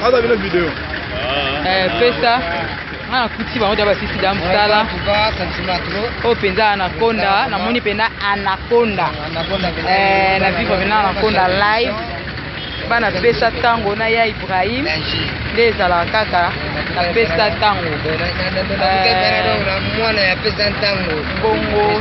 Aza bino video. Eh, pesa nga nakuti bango da basisi da mosala oyo mpenza anaconda namoni mpenza anaconda eh, na vivre mpenza anaconda live bana pesa ntango na ya ibrahim nde ezalaka kaka na pesa ntango eh, bongo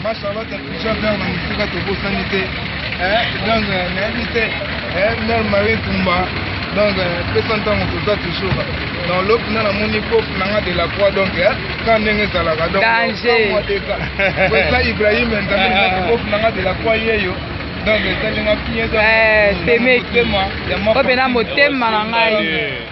Ma Charlotte touche vers na musika tobosani te donc nayebi te mère Marie Kumba donc pesa ntango toza toujours dans lop nga namoni kof na nga de la croix donc ka ndenge ezalaka donc eza Ibrahim nzambe nzaki kof na nga de la croix yeyo donc esalinga motema ya motema na ngai